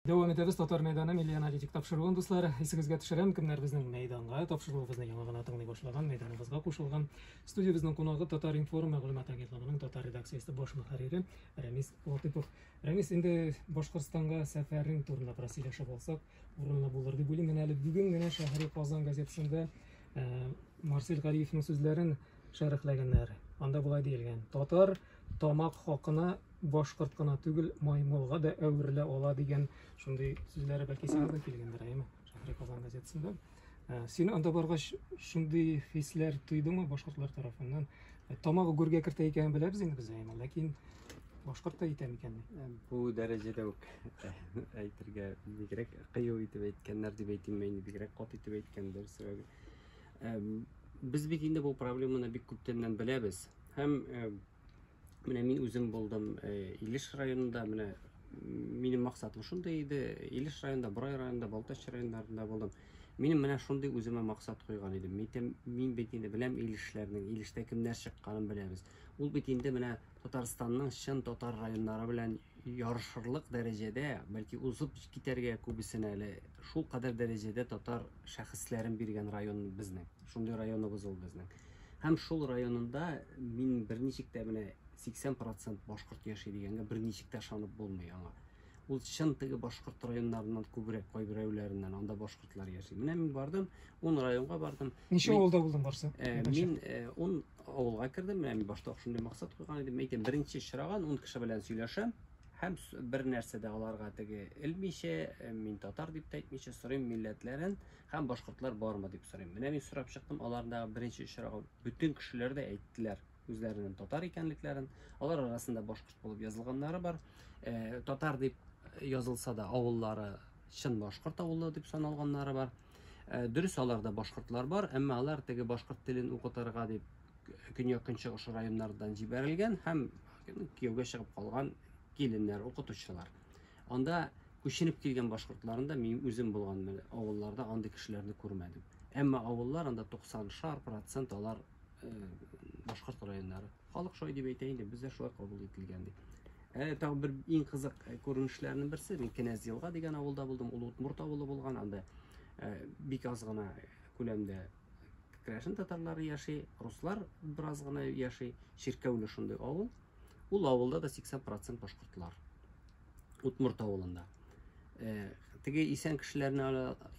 Дәвам итәбез Татар мәйданы милли аналитик тапшыруын, дуслар. Исегезгә төшерәм, кемнәр безнең мәйданга тапшыруыбызны яңа гына тыңлый башлаган, мәйданыбызга кушылган. Студиябезнең кунагы Татар информ мәгълүмат агентлыгының татар редакциясе баш мөхәррире Рәмис Латыпов. Рәмис, инде Башкортстанга сәфәрең турында бераз сөйләшеп алсак, урынлы булыр дип уйлыйм. Менә әле бүген генә Шәһри Казан газетасында э, Марсель Гариевның сүзләрен шәрехләгәннәр. Анда болай диелгән, татар тамак хакына башкорт кына түгел, маймылга да әверелә ала дигән шундый сүзләре бәлки сиңа да килгәндер, әйеме? Шәһри Казан газетасында. Ә, Син анда баргач шундый хисләр тойдыңмы башкортлар тарафыннан? Ә, Тамагы гүргә кертә икәнен беләбез инде без әйеме, ләкин башкорт та итә микән? Ә, Бу дәрәҗәдә үк әйтергә бигрәк кыю итеп әйткәннәр дип әйтимме инде, бигрәк кат итеп әйткәндер, сәбәбе Без бит инде бу проблеманы бик күптәннән беләбез. Һәм менә мин үзем булдым Илеш районында, менә минем максатым шундый иде. Илеш районында, Борай районында, Балтач районнарында булдым. Минем менә шундый үземә максат куйган идем. Мин, мин бит инде беләм Илешләрнең, Илештә кемнәр чыкканын беләбез. Ул бит инде менә Татарстанның чын татар районнары белән Ярышырлык дәрәҗәдә, бәлки узып китәргә күбесен әле, шулкадәр дәрәҗәдә татар шәхесләрен биргән район безнең. Шундый районыбыз ул безнең. Һәм шул районында мин берничек тә менә 80 процент башкорт яши дигәнгә берничек тә ышанып булмый аңа. Ул чын теге башкорт районнарыннан күбрәк кайберәүләреннән анда башкортлар яши. Менә мин бардым, ун районга бардым. Ничә авылда булдың барсы? Э, мин э, ун авылга кердем, менә мин башта шундый максат куйган идем. Әйтәм, беренче очраган ун кеше белән сөйләшәм һәм бер нәрсә дә аларга теге элмичә, э, мин татар дип тә әйтмичә сорыйм милләтләрен һәм башкортлар бармы дип сорыйм. Менә мин сорап чыктым, аларда беренче очрагы бөтен кешеләр дә әйттеләр үзләренең татар икәнлекләрен. Алар арасында башкорт булып язылганнары бар. Э, татар дип язылса да авыллары чын башкорт авылы дип саналганнары бар. Э, дөрес аларда башкортлар бар әмма алар теге башкорт телен укытырга дип көньяк-көнчыгыш районнардан җибәрелгән һәм кияүгә чыгып калган киленнәр укытучылар анда күченеп килгән башкортларын да мин үзем булган авылларда андый кешеләрне күрмәдем әмма авыллар анда 90 шар процент алар башкорт районнары. Халык шулай дип әйтә инде, бездә шулай кабул ителгән дип. Әле тагын бер иң кызык э, күренешләрнең берсе, мин Кенәз Елга дигән авылда булдым, ул Утмурт авылы булган, анда э, бик аз гына күләмдә крәшен татарлары яши, руслар бераз гына яши, чиркәүле шундый авыл. Ул авылда да 80% башкортлар. Утмурт авылында. Э, теге исән кешеләрне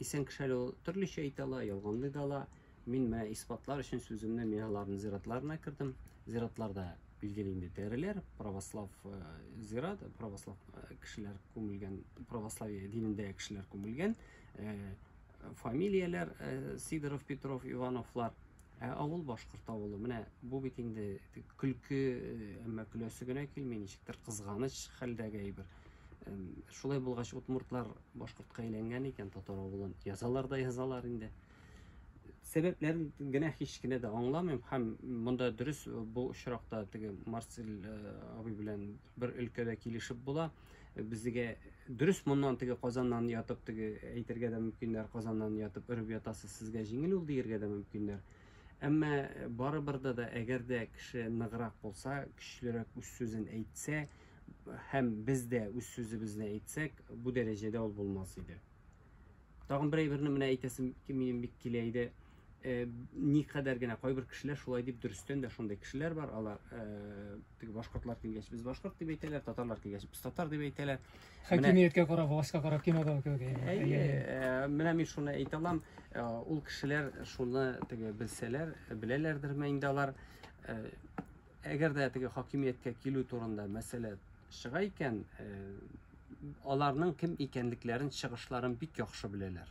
исән кеше төрлечә әйтә ала, ялганлый да ала. Мин менә исбатлар өчен сүземне Мигаларны зиратларына кердем. Зиратларда билгеле инде тәреләр, православ э, зират, православ э, кешеләр күмелгән, православие динендә кешеләр күмелгән. Э, фамилияләр Сидоров, Петров, Ивановлар. Ә авыл башкорт авылы. Менә бу бит инде көлке, әмма көләсе генә килми, ничектер кызганыч хәлдәге әйбер. Шулай булгач, удмуртлар башкортка әйләнгән икән, татар авылын язалар да язалар инде. сәбәпләрен генә һич кенә дә аңламыйм һәм монда дөрес э, бу очракта теге марсель э, абый белән бер өлкәдә килешеп була э, безгә дөрес моннан теге казаннан ятып теге әйтергә дә мөмкиннәр казаннан ятып өреп ятасыз сезгә җиңел ул диергә дә мөмкиннәр әмма барыбер да әгәр дә кеше ныграк булса көчлерәк үз сүзен әйтсә һәм без дә үз сүзебезне әйтсәк бу дәрәҗәдә ул булмас иде Тагын бер әйберне менә әйтәсем минем бик килә иде. Э, никадәр генә кайбер кешеләр шулай дип дөрестән дә шундый кешеләр бар. Алар э, теге башкортлар килгәч без башкорт дип әйтәләр, татарлар килгәч без татар дип әйтәләр. Хакимияткә карап, властька карап кинода күргән. Әйе, э, менә мин шуны әйтә алам. Ул кешеләр шуны теге белсәләр, беләләрдерме инде алар? Әгәр дә теге хакимияткә килү турында мәсьәлә чыга икән, э, аларның кем икәнлекләрен, чыгышларын бик яхшы беләләр.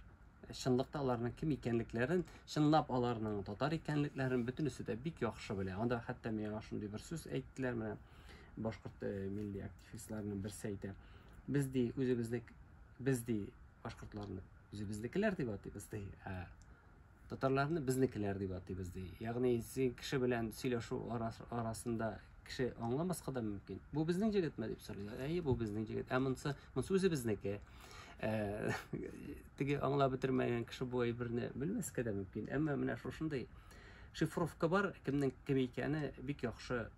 Э, чынлыкта аларның кем икәнлекләрен, чынлап аларның татар икәнлекләрен бөтенесе дә бик яхшы белә. Анда хәтта миңа шундый бер сүз әйттеләр менә башкорт э, милли активистларының берсе әйтә. Без ди үзебезне без ди башкортларны үзебезнекеләр дип атыйбыз ди. Ә Татарларны безнекеләр дип атыйбыз ди. Ягъни син кеше белән сөйләшү арасында кеше аңламаска да мөмкин. Бу безнең җегетме дип сорыйлар. Әйе, бу безнең җегет. Ә монсы, монсы үзе безнеке. Ә, теге аңлап бетермәгән кеше бу әйберне белмәскә дә мөмкин. Әмма менә шушындый шифровка бар, кемнең кем икәне бик яхшы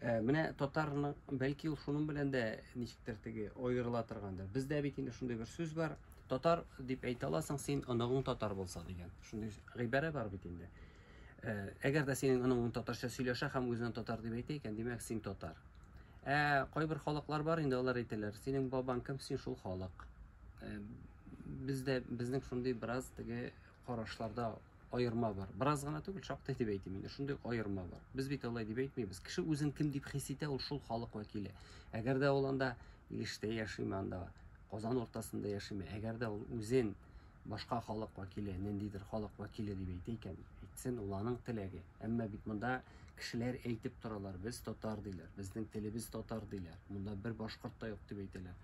Ә, э, менә татарның, бәлки ул шуның белән дә ничектер теге аерыла торгандыр. Бездә бит инде шундый бер сүз бар. Татар дип әйтә аласың син, оныгың татар булса дигән. Шундый гыйбарә бар бит инде. Ә, э, әгәр дә синең оныгың татарча сөйләшә һәм үзенә татар дип әйтә икән, димәк син татар. Ә э, кайбер халыклар бар инде алар әйтәләр, синең бабаң кем, син шул халык. Ә, бездә безнең шундый бераз теге карашларда аерма бар. Бераз гына түгел, шактый дип әйтим инде. Шундый аерма бар. Без бит алай дип әйтмибез. Кеше үзен кем дип хис итә, ул шул халык вәкиле. Әгәр дә ул анда Илештә яшиме, анда Казан уртасында яшиме, әгәр дә ул үзен башка халык вәкиле, ниндидер халык вәкиле дип әйтә икән, әйтсен, ул аның теләге. Әмма бит монда кешеләр әйтеп торалар, без татар диләр, безнең телебез татар диләр. Монда бер башкорт та юк дип әйтәләр.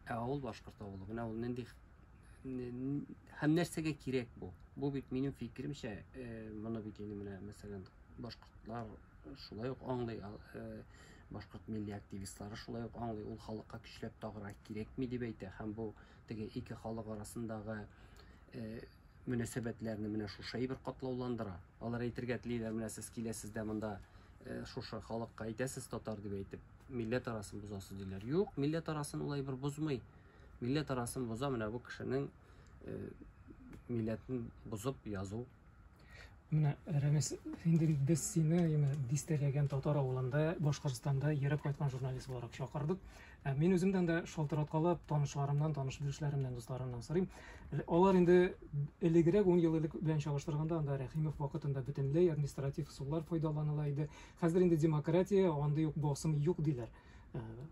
Ә авыл башкорт авылы. Менә ул нинди һәм нәрсәгә кирәк бу? Бу бит минем фикеремчә, э, моны бит инде менә мәсәлән башкортлар шулай ук аңлый, э, башкорт милли активистлары шулай ук аңлый, ул халыкка көчләп тагыра кирәкми дип әйтә һәм бу теге ике халык арасындагы э, мөнәсәбәтләрне менә шушы әйбер катлауландыра. Алар әйтергә телиләр, менә сез киләсез дә монда шушы халыкка әйтәсез татар дип әйтеп, милләт арасын бозасыз диләр. Юк, милләт арасын улай бер бозмый. Милләт арасын боза менә бу кешенең э, милләтен бозып язу. Менә Рәмис, инде без сине яме дистәләгән татар авылында, Башкортстанда йөреп кайткан журналист буларак чакырдык. Ә мин үземдән дә шалтыраткалап, танышларымнан, таныш белешләремнән, дусларымнан сорыйм. Алар инде элегрәк 10 ел элек белән чагыштырганда анда Рәхимов вакытында бөтенләй административ сулар файдаланыла иде. Хәзер инде демократия, андый юк басым юк диләр.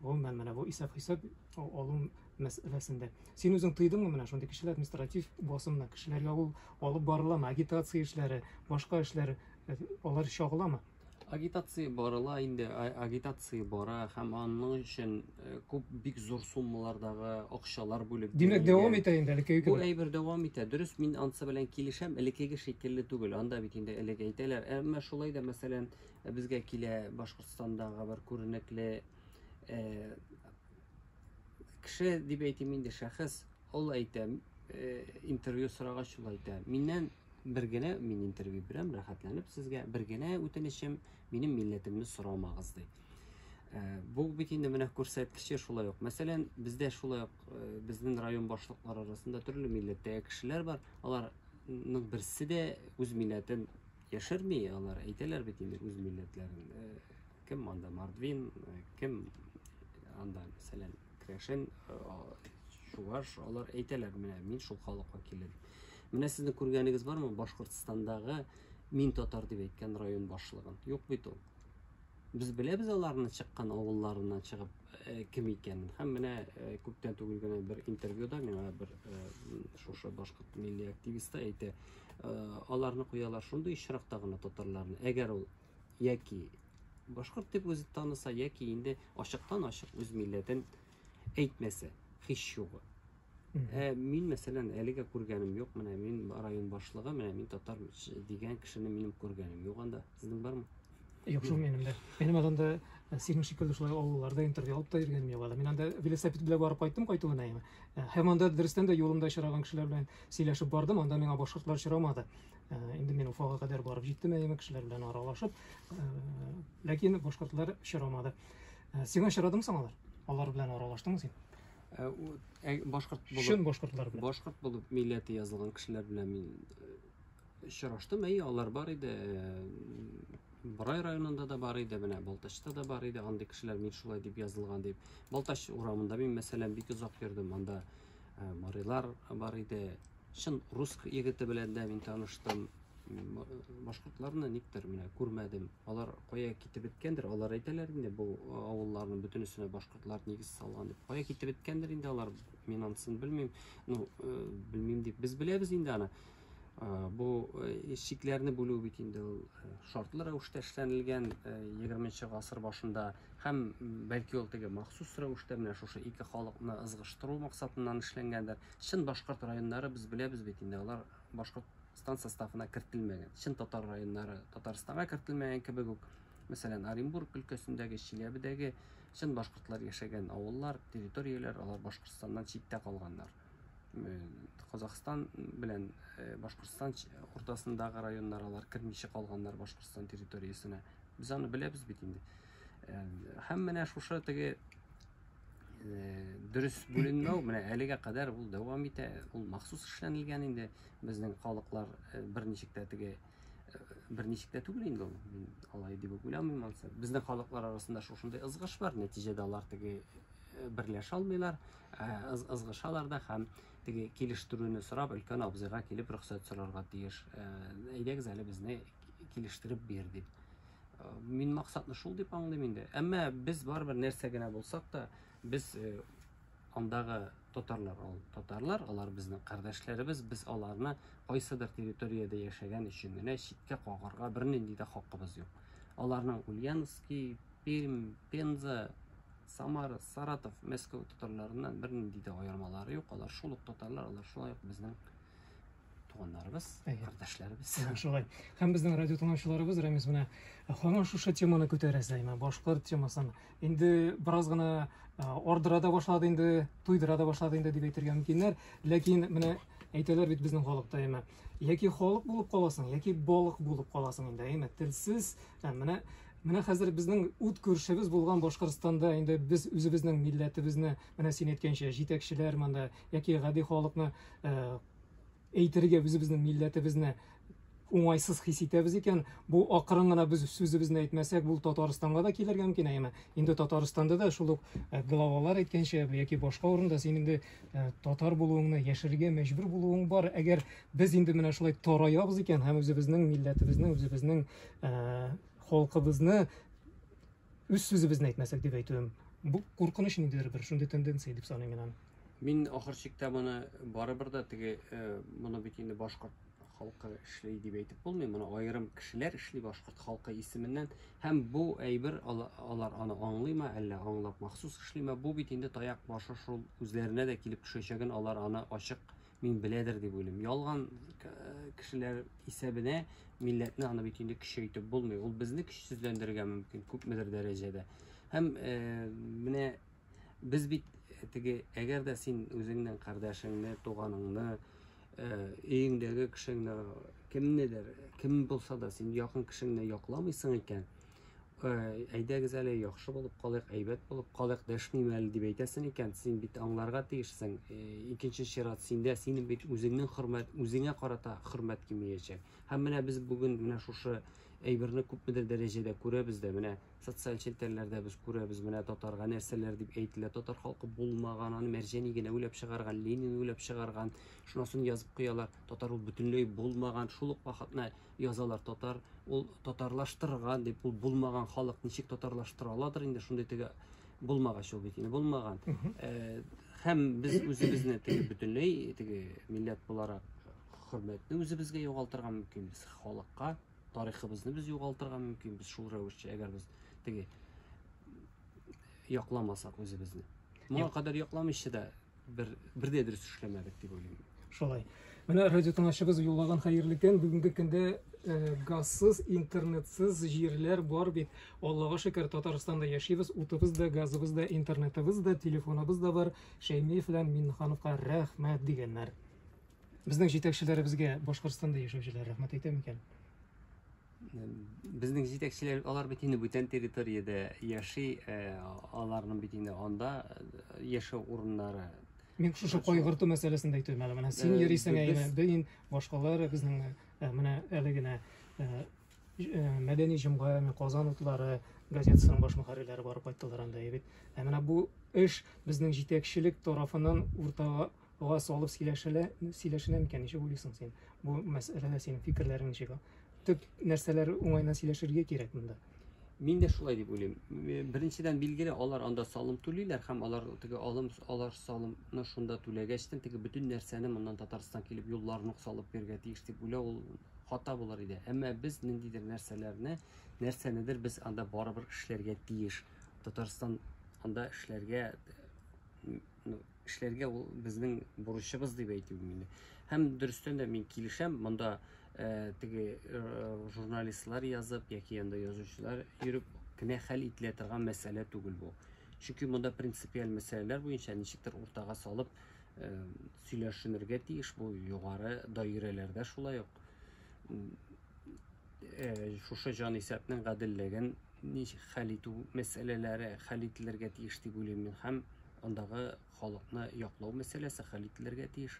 Гомумән, менә бу исәп-хисап алу мәсьәләсендә. Син үзең тыйдыңмы менә шундый кешеләр административ басымны? Кешеләргә ул алып барыламы? Агитация эшләре, башка эшләр, э, алар чагыламы? Агитация барыла инде, агитация бара һәм аның өчен э, күп бик зур суммалардагы акчалар бүлеп Димәк, дәвам итә инде әле Бу әйбер дәвам итә. Дөрес, мин ансы белән килешәм, элекеге шикелле түгел. Анда бит инде элек әйтәләр. Әмма шулай да, мәсәлән, Безгә килә Башкортстандагы бер күренекле кеше дип әйтим инде шәхес ул әйтә интервью сорагач ул әйтә миннән бер генә мин интервью бирәм рәхәтләнеп сезгә бер генә үтенечем минем милләтемне сорамагыз ди бу бит инде менә күрсәткече шулай ук мәсәлән бездә шулай ук безнең район башлыклары арасында төрле милләттәге кешеләр бар аларның берсе дә үз милләтен Яшерми алар, әйтәләр бит инде үз милләтләрен. Э, кем анда Мордвин, э, кем анда, мәсәлән, Крәшен, э, Чуваш, алар әйтәләр, менә мин шул халык вәкиле. Менә сезнең күргәнегез бармы Башкортстандагы мин татар дип әйткән район башлыгын? Юк бит ул. Без беләбез аларны чыккан авылларыннан чыгып э, кем икәнен. Һәм менә э, күптән түгел генә бер интервьюда миңа бер э, шушы башкорт милли активисты әйтә, аларны куялар шундый очракта гына татарларны әгәр ул яки башкорт дип үзе таныса яки инде ачыктан ачык үз милләтен әйтмәсә һич югы ә мин мәсәлән әлегә күргәнем юк менә мин район башлыгы менә мин татар дигән кешене минем күргәнем юк анда Сезнең бармы? Юк, шул минем дә. Минем анда э, синең шикелле шулай авылларда интервью алып та йөргәнем юк әле. Мин анда велосипед белән барып кайттым кайту гына инде. Э, һәм анда дөрестән дә юлымда очраган кешеләр белән сөйләшеп бардым, анда миңа башкортлар очрамады. Э, инде мин Уфага кадәр барып җиттем әйеме кешеләр белән аралашып, ләкин башкортлар очрамады. Сиңа очрадымы соң алар? Алар белән аралаштыңмы син? Башкорт булып. Чын башкортлар белән. Башкорт булып милләте язылган кешеләр белән мин Очраштым, әйе, алар бар иде. Борай районында да бар иде, менә Балтачта да бар иде, андый кешеләр мин шулай дип язылган дип. Балтач урамында мин, мәсәлән, бик озак йөрдем, анда э, марилар бар иде. Чын рус егете белән дә мин таныштым. Башкортларны никтер менә күрмәдем. Алар кая китеп беткәндер, алар әйтәләр инде бу э, авылларның бөтенесенә башкортлар нигез салган дип. Кая китеп беткәндер инде алар, мин анысын белмим. Ну, э, белмим дип, без беләбез инде аны. Бу чикләрне бүлү бит инде ул шартлы рәвештә эшләнелгән 20 гасыр башында һәм бәлки ул теге махсус рәвештә менә шушы ике халыкны ызгыштыру максатыннан эшләнгәндер. Чын башкорт районнары без беләбез бит инде, алар Башкортстан составына кертелмәгән. Чын татар районнары Татарстанга кертелмәгән кебек үк, мәсәлән, Оренбург өлкәсендәге, Чиләбедәге чын башкортлар яшәгән авыллар, территорияләр, алар Башкортстаннан читтә калганнар. Казахстан белән Башкортстан уртасындагы районнар алар кермичә калганнар Башкортстан территориясенә. Без аны беләбез бит инде. Һәм менә шушы теге дөрес бүленмәү менә әлегә кадәр ул дәвам итә. Ул махсус эшләнелгән инде. Безнең халыклар берничек тә теге берничек тә түгел инде ул мин алай дип үк уйламыйм ансы безнең халыклар арасында шушындый ызгыш бар нәтиҗәдә алар теге э, берләшә алмыйлар э, ызгышалар да һәм теге килештерүне сорап өлкән абзыйга килеп рөхсәт сорарга тиеш э, әйдәгез әле безне килештереп бир дип мин максатны шул дип аңлыйм инде әмма без барыбер нәрсә генә булсак та без Андагы татарлар ул татарлар, алар безнең кардәшләребез, без аларны кайсыдыр территориядә яшәгән өчен генә читкә кагарга бернинди дә хакыбыз юк. Аларның Ульяновский, Пермь, Пенза, Самара, Саратов, Мәскәү татарларыннан бернинди дә аермалары юк. Алар шул ук татарлар, алар шулай ук безнең туганнарыбыз, кардәшләребез. Шулай. Һәм безнең радио тыңлаучыларыбыз Рәмис менә һаман шушы теманы күтәрә сәймә. Башкорт темасын инде бераз гына ардыра да башлады инде туйдыра да башлады инде дип әйтергә мөмкиннәр ләкин менә әйтәләр бит безнең халыкта әйме яки халык булып каласың яки балык булып каласың инде әйме телсез менә менә хәзер безнең ут күршебез булган башкортстанда инде без үзебезнең милләтебезне менә син әйткәнчә җитәкчеләр монда яки гади халыкны әйтергә үзебезнең милләтебезне уңайсыз хис итәбез икән, бу акрын гына без сүзебезне әйтмәсәк, бу Татарстанга да килергә мөмкин, әйеме? Инде Татарстанда да шул ук э, главалар әйткәнчә яки башка урында син инде э, татар булуыңны яшерергә мәҗбүр булуың бар. Әгәр без инде менә шулай тараябыз икән һәм үзебезнең милләтебезне, үзебезнең э, халкыбызны Үз сүзебезне әйтмәсәк дип әйтүем. Бу куркыныч ниндидер бер шундый тенденция дип саныйм мин аны. Мин ахыр чиктә моны барыбер да теге э, моны бит инде башкорт халкы эшли дип әйтеп булмый, моны аерым кешеләр эшли башкорт халкы исеменнән һәм бу әйбер алар аны аңлыймы, әллә аңлап махсус эшлиме, бу бит инде таяк башы шул үзләренә дә килеп төшәчәген алар аны ачык Мин беләдер дип уйлыйм. Ялган кешеләр исәбенә милләтне аны бит инде көчәйтеп булмый. Ул безне көчсезләндерергә мөмкин күпмедер дәрәҗәдә. Һәм э, менә без бит э, теге әгәр дә син үзеңнең кардәшеңне, туганыңны, э, өеңдәге кешеңне, кемнедер, кем булса да син якын кешеңне якламыйсың икән, әйдәгез әле яхшы булып калыйк әйбәт булып калыйк дәшмим әле дип әйтәсең икән син бит аңларга тиешсең э, икенче чират синдә синең бит үзеңнең хөрмәт үзеңә карата хөрмәт кимиячәк һәм менә без бүген менә шушы әйберне күпмедер дәрәҗәдә күрәбез дә менә социаль челтәрләрдә без күрәбез менә татарга нәрсәләр дип әйтелә татар халкы булмаган аны мәрҗәни генә уйлап чыгарган ленин уйлап чыгарган шунысын язып куялар татар ул бөтенләй булмаган шул ук вакытны язалар татар ул татарлаштырган дип ул булмаган халык ничек татарлаштыра аладыр инде шундый теге булмагач ул бит инде булмаган э, һәм без үзебезне теге бөтенләй теге милләт буларак хөрмәтне үзебезгә югалтырга мөмкинбез халыкка тарихыбызны без югалтырга мөмкинбез шул рәвешчә әгәр без теге якламасак үзебезне моңа кадәр якламыйчы да бер, бер дә дөрес эшләмәдек дип уйлыйм. Шулай. Менә радио тыңлаучыбыз юллаган хәерле көн. Бүгенге көндә э, газсыз, интернетсыз җирләр бар бит. Аллага шөкер, Татарстанда яшибез. Утыбыз да, газыбыз да, интернетыбыз да, телефоныбыз да бар. Шәймиев белән Миннехановка рәхмәт дигәннәр. Безнең җитәкчеләребезгә Башкортстанда яшәүчеләр рәхмәт әйтә микән? Безнең җитәкчеләр алар бит инде бүтән территориядә яши, э, аларның бит инде анда э, яшәү урыннары. Мин шушы кайгырту мәсьәләсен дә әйтәм әле. Менә син Э, йөрисең ә без- инде бөен башкалар безнең э, менә әле генә э, ж- э, мәдәни җомга, менә Казан утлары газетасының баш мөхәррирләре барып кайттылар анда бит. Ә менә бу эш безнең җитәкчелек тарафыннан уртага Га салып сөйләшелә, сөйләшенә микән, ничек уйлыйсың син? Бу мәсьәләдә синең фикерләрең ничек? Төп нәрсәләр уңайына сөйләшергә кирәк монда. Мин дә шулай дип уйлыйм. Э, Беренчедән билгеле, алар анда салым түлиләр һәм алар теге алым алар салымны шунда түләгәчтен теге бөтен нәрсәне моннан Татарстан килеп юлларын ук салып бирергә тиеш дип уйлау ул хата булыр иде. Әмма без ниндидер нәрсәләрне, нәрсәнедер без анда барыбер эшләргә тиеш. Татарстан анда эшләргә Ну, эшләргә ул безнең бурычыбыз дип әйтү мин. Һәм дөрестән дә мин килешәм, монда э, теге э, журналистлар язып яки анда язучылар йөреп кенә хәл ителә торган мәсьәлә түгел бу. Чөнки монда принципиаль мәсьәләләр буенча ничектер уртага салып э, сөйләшенергә тиеш бу югары даирәләрдә шулай ук э, шушы җанисәпнең гаделлеген хәл итү мәсьәләләре хәл ителергә тиеш дип уйлыйм мин һәм андагы халыкны яклау мәсьәләсе хәл ителергә тиеш